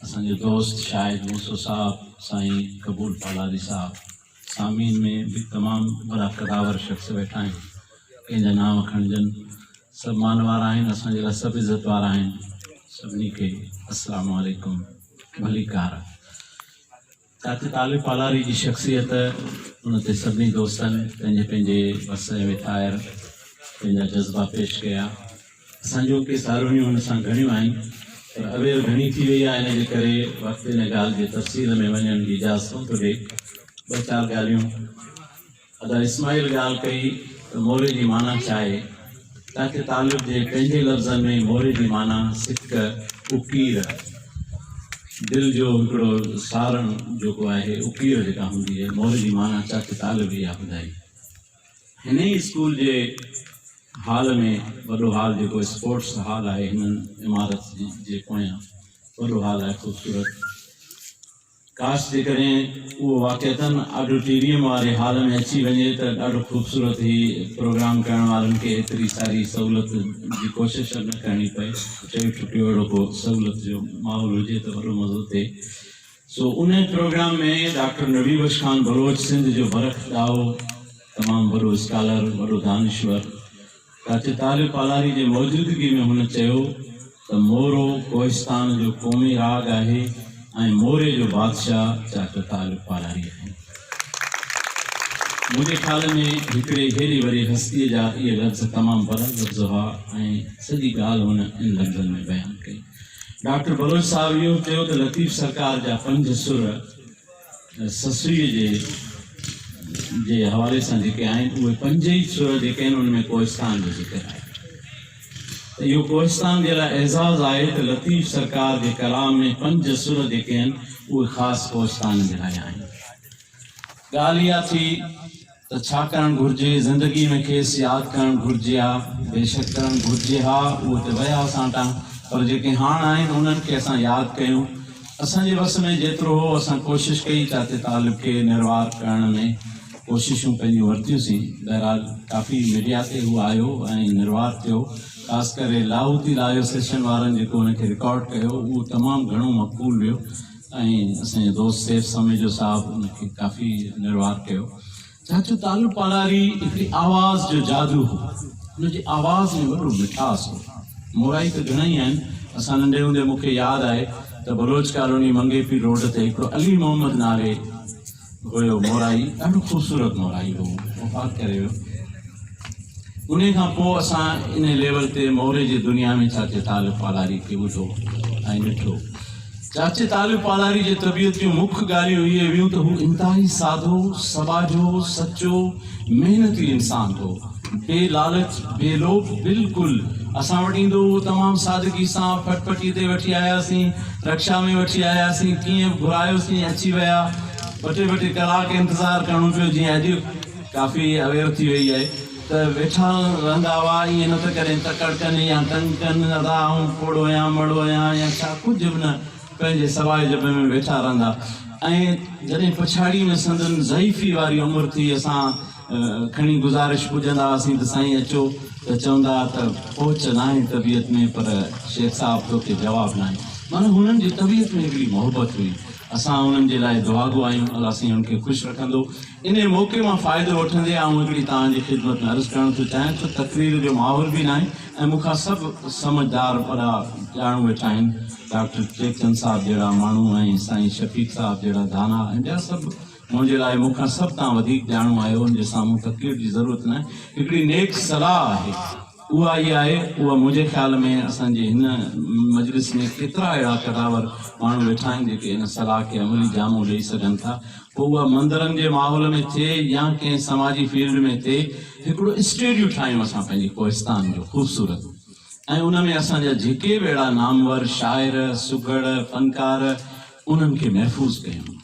اسان جو دوست شاهد موسو صاحب، سائين قبول پالاري صاحب، سامعين ۾ به تمام وڏا قداور شخص ويٺا آهن، ڪنهن جا نانء کڻجن، سڀ مان وارا آهن، اسان جي لاء سڀ عزت وارا آهن، سڀني کي السلام عليڪم ڀليڪار. ڪاٿي طالب پالاري جي شخصيت ان تي سڀني دوستن پنهنجي پنهنجي وس ۽ ويٽائر پنهنجا جذبا پيش ڪيا. اسان جون ڪي ساروڻيون هن سان گهڻيون آهن پر اوير گهڻي ٿي وئي آهي ان جي ڪري وقت ان ڳالهه جي تفصيل ۾ وڃڻ جي اجازت ڪونه ٿو ڏئي. ٻه چار ڳالهيون. ادا اسماعيل ڳالهه ڪئي ته موري جي معنيٰ ڇا آهي؟ ڪاڪي طالب جي پنهنجي لفظن ۾ موري جي معنيٰ سڪ، اڪير، دل جو هڪڙو سارڻ جيڪو آهي اڪير جيڪا هوندي آهي موري جي معنيٰ ڪاڪي طالب اها ٻڌائي. هن ئي اسڪول جي هال ۾ وڏو هال جيڪو اسپورٽس هال آهي هن عمارت جي پويان وڏو هال آهي خوبصورت. ڪاش جيڪڏهن اهو واقعتاً آڊوٽيريم واري هال ۾ اچي وڃي ته ڏاڍو خوبصورت هي پروگرام ڪرڻ وارن کي ايتري ساري سهولت جي ڪوشش نه ڪرڻي پئي چوي ٺٽو اهڙو ڪو سهولت جو ماحول هجي ته وڏو مزو ٿئي سو ان پروگرام ۾ ڊاڪٽر نبي بخش خان بلوچ سنڌ جو برک ڏاهو تمام وڏو اسڪالر وڏو دانشور ڪاچي تاري پالاري جي موجودگي ۾ هن چيو ته مورو ڪوهستان جو قومي راڳ آهي ۽ موري جو بادشاهه چاچو تاري پالاري آهي. منهنجي خيال ۾ هڪڙي هيري وري هستيء جا اهي لفظ تمام بلند لفظ هئا ۽ سڄي ڳالهه هن ان لفظن ۾ بيان ڪئي. ڊاڪٽر بلوچ صاحب اهو چيو ته لطيف سرڪار جا پنج سر، سسئيء جي جي حوالي سان جيڪي آهن، اهي پنج ئي سر جيڪي آهن، ان ۾ ڪوهستان جو ذڪر آهي ته اهو ڪوهستان جي لاء اعزاز آهي ته لطيف سرڪار جي ڪلام ۾ پنج سر جيڪي آهن، اهي خاص ڪوهستان جي لاء آهن. ڳالهه اها ٿي. ته ڇا ڪرڻ گهرجي زندگي ۾ کيس ياد ڪرڻ گهرجي ها بيشڪ ڪرڻ گهرجي ها اهو ته ويا اسان تان پر جيڪي هاڻ آهن انهن کي اسان ياد ڪيون اسان جي وس ۾ جيترو هو اسان ڪوشش ڪئي چاچي طالب کي نروار ڪرڻ ۾ ڪوششون پنهنجون ورتيون سين بهرحال ڪافي ميڊيا تي هو آيو ۽ نروار ٿيو خاص ڪري لاهوتي لايو سيشن وارن جيڪو ان کي رڪارڊ ڪيو اهو تمام گهڻو مقبول ويو ۽ اسان جي دوست سيف سميجو صاحب ان کي ڪافي نروار ڪيو. چاچو تالو پاڙاري هڪڙي آواز جو جادو هو. ان جي آواز ۾ وڏو مٺاس هو. مورائي ته گهڻائي آهن. اسان ننڍي هوندي مون کي ياد آهي ته Baloch colony Manghopir road تي هڪڙو علي محمد نالي هيو مورائي ڏاڍو خوبصورت مورائي هو وفات ڪري ويو انهي کان پوء اسان انهي ليول تي موري جي دنيا ۾ چاچي طالب پالاري کي ٻڌو ۽ ڏٺو چاچي طالب پالاري جي طبيعت جون مک ڳالهيون اهي هيون ته هو انتهائي سادو سٻاجهو سچو محنتي انسان هو، بي لالچ، بي لوڀ، بلڪل اسان وٽ ايندو هو تمام سادگي سان ڦٽ ڦٽي تي وٺي آياسين، رڪشا ۾ وٺي آياسين، ڪيئن به گهرايوسين اچي ويا، ٻه ٽي ٻه ٽي ڪلاڪ انتظار ڪرڻو پيو جيئن اڄ ڪافي اوير ٿي وئي آهي ته ويٺا رهندا هئا ائين نه ته ڪڏهن تڪڙ ڪن يا تنگ ڪن ادا آئون پوڙهو آهيان مڙو آهيان يا ڇا ڪجهه به نه پنهنجي سوائي جبي ۾ ويٺا رهندا ۽ جڏهن پڇاڙيء ۾ سندن ضعيفيء واري عمر ٿي اسان کڻي گذارش پڄندا هئاسين ته سائين اچو ته چوندا ها ته پهچ ناهي طبيعت ۾ پر شيخ صاحب توکي جواب ناهي معنيٰ هنن جي طبيعت ۾ هڪڙي محبت هئي اسان هنن جي لاء دعاگو آهيون الله سائين هن کي خوش رکندو. انهيء موقعي مان فائدو وٺندي آئون هڪڙي توهان جي خدمت ۾ عرض ڪرڻ ٿو چاهيان ته تقرير جو ماحول به ناهي ۽ مون کان سڀ سمجهدار وڏا ڄاڻو ويٺا آهن ڊاڪٽر ٽيڪچند صاحب جهڙا ماڻهو ۽ سائين شفيق صاحب جهڙا دانا ۽ ٻيا سڀ منهنجي لاء مون کان سڀ تان وڌيڪ ڄاڻو آهيو ان جي سامهون تقرير جي ضرورت ناهي هڪڙي نيڪ صلاح آهي. اها ئي آهي اها منهنجي خيال ۾ اسان جي هن مجلس ۾ ڪيترا اهڙا قداور ماڻهو ويٺا آهن جيڪي ان صلاح کي عملي جامو ڏئي سگهن ٿا پوء اها مندرن جي ماحول ۾ ٿئي يا ڪنهن سماجي فيلڊ ۾ ٿئي هڪڙو اسٽيڊيو ٺاهيون اسان پنهنجي ڪوهستان جو خوبصورت ۽ ان ۾ اسان جا جيڪي به اهڙا نامور شاعر سگهڙ فنڪار انهن کي محفوظ ڪيون.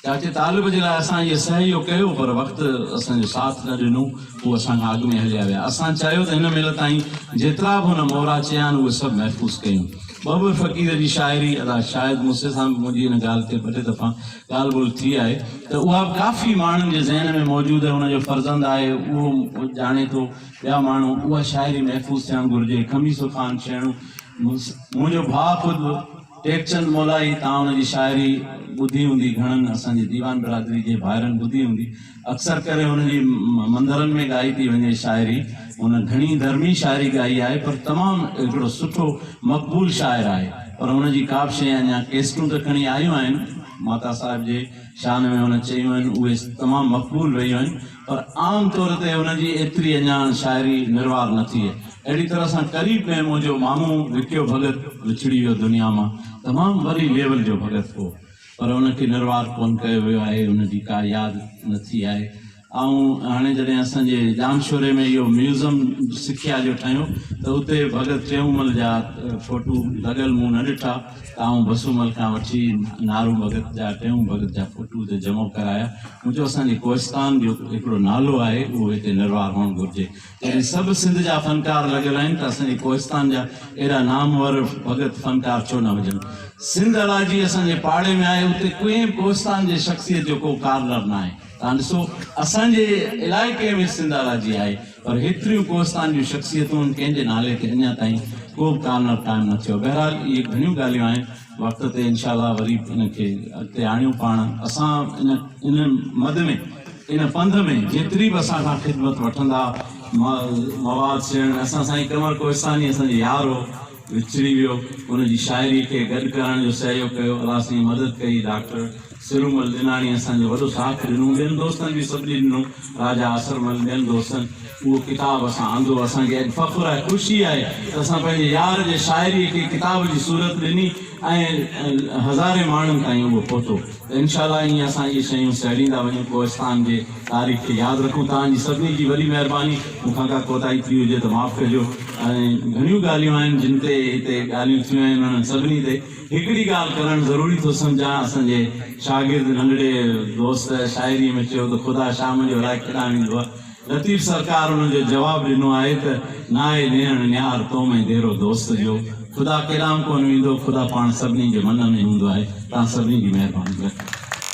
چاچي طالب جي لاء اسان اهي سهيو ڪيو پر وقت اسان جو ساٿ نه ڏنو هو اسان کان اڳ ۾ هليا ويا اسان چاهيو ته هن مهل تائين جيترا به هن مورا چيا آهن اهي سڀ محفوظ ڪيون ٻه ٻه فقير جي شاعري ادا شايد موسي سان به منهنجي هن ڳالهه تي ٻه ٽي دفعا ڳالهه ٻولهه ٿي آهي ته اها به ڪافي ماڻهن جي ذهن ۾ موجود آهي ان جو فرزند آهي اهو ڄاڻي ٿو ٻيا ماڻهو اها شاعري محفوظ ٿيڻ گهرجي خميسو خان شيڻو منهنجو ڀاء خود ٽيڪچند مولائي تان ان جي شاعري ٻڌي هوندي، گهڻن اسان جي ديوان برادري جي ڀائرن ٻڌي هوندي. اڪثر ڪري هن جي مندرن ۾ ڳائي پئي وڃي شاعري. هن گهڻي ڌرمي شاعري ڳائي آهي پر تمام هڪڙو سٺو مقبول شاعر آهي پر هن جي ڪابه شيء اڃا ڪيسٽون ته کڻي آيون آهن ماتا صاحب جي شان ۾ هن چيون آهن اهي تمام مقبول رهيون آهن. پر عام طور تي ان جي ايتري اهڃاڻ شاعري نروار نه ٿئي. اهڙي طرح سان قريب ۾ منهنجو مامو وڪيو ڀڳت وڇڙي ويو دنيا مان. تمام وڏي ليول جو ڀڳت هو. پر ان کي نروار ڪونه ڪيو ويو آهي، ان جي ڪا ياد نه ٿي آهي. آئون هاڻي جڏهن اسان جي ڄامشوري ۾ اهو ميوزم سکيا جو ٺاهيون ته اتي ڀڳت ٽيئونمل جا ڦوٽو لڳل مون نه ڏٺا. تائون بسون مل کان وٺي نارو ڀڳت جا ٽيون ڀڳت جا فوٽو اتي جمع ڪرايا. مون چيو اسان جي ڪوهستان جو هڪڙو نالو آهي اهو هتي نروار هئڻ گهرجي. جڏهن سڀ سنڌ جا فنڪار لڳل آهن ته اسان جي ڪوهستان جا اهڙا نامور ڀڳت فنڪار ڇو نه هجن. سنڌ الاجي اسان جي پاڙي ۾ آهي اتي ڪنهن به ڪوهستان جي شخصيت جو ڪو ڪارنر ناهي. تان ڏسو اسان جي علائقي ۾ سنڌ الاجي آهي. پر هيتريون ڪوهستان جون شخصيتون ڪنهن جي نالي تي اڃا تائين ڪو به ڪارنر قائم نه ٿيو بهرحال اهي گهڻيون ڳالهيون آهن وقت تي انشاء الله وري ان کي اڳتي آڻيون پاڻ اسان ان ان مد ۾ ان پنڌ ۾ جيتري به اسان کان خدمت وٺندا مواد سيڻ اسان سائين قمر ڪوهستاني اسان جو يار هو وچري ويو ان جي شاعري کي گڏ ڪرڻ جو سهيوگ ڪيو الله سائين مدد ڪئي ڊاڪٽر سرومل ڏناڻي اسان جو وڏو ساٿ ڏنو ٻين دوستن به سڀني ڏنو راجا اسرمل ٻين دوستن اهو ڪتاب اسان آندو اسان کي اڄ فخر آهي خوشي آهي ته اسان پنهنجي يار جي شاعري کي ڪتاب جي صورت ڏني ۽ هزارين ماڻهن تائين اهو پهتو ته انشاء الله ائين اسان اهي شيون سهيڙيندا وڃون ڪوهستان جي تاريخ کي ياد رکون توهان جي سڀني جي وڏي مهرباني مون کان ڪا ڪوتاهي ٿي هجي ته معاف ڪجو ۽ گهڻيون ڳالهيون آهن جن تي هتي ڳالهيون ٿيون آهن انهن سڀني تي هڪڙي ڳالهه ڪرڻ ضروري ٿو سمجهان اسان جي شاگرد ننڍڙي دوست شاعري ۾ چيو ته خدا شام جو الائي ڪيڏانهن ويندو آهي لطيف سرڪار انهن جو جواب ڏنو آهي ته، ناهي نيڻ نيار تو ۾ ديرو دوست جو، خدا ڪيڏانهن ڪونه ويندو، خدا پاڻ سڀني جي من ۾ هوندو آهي، توهان سڀني جي مهرباني لطيف.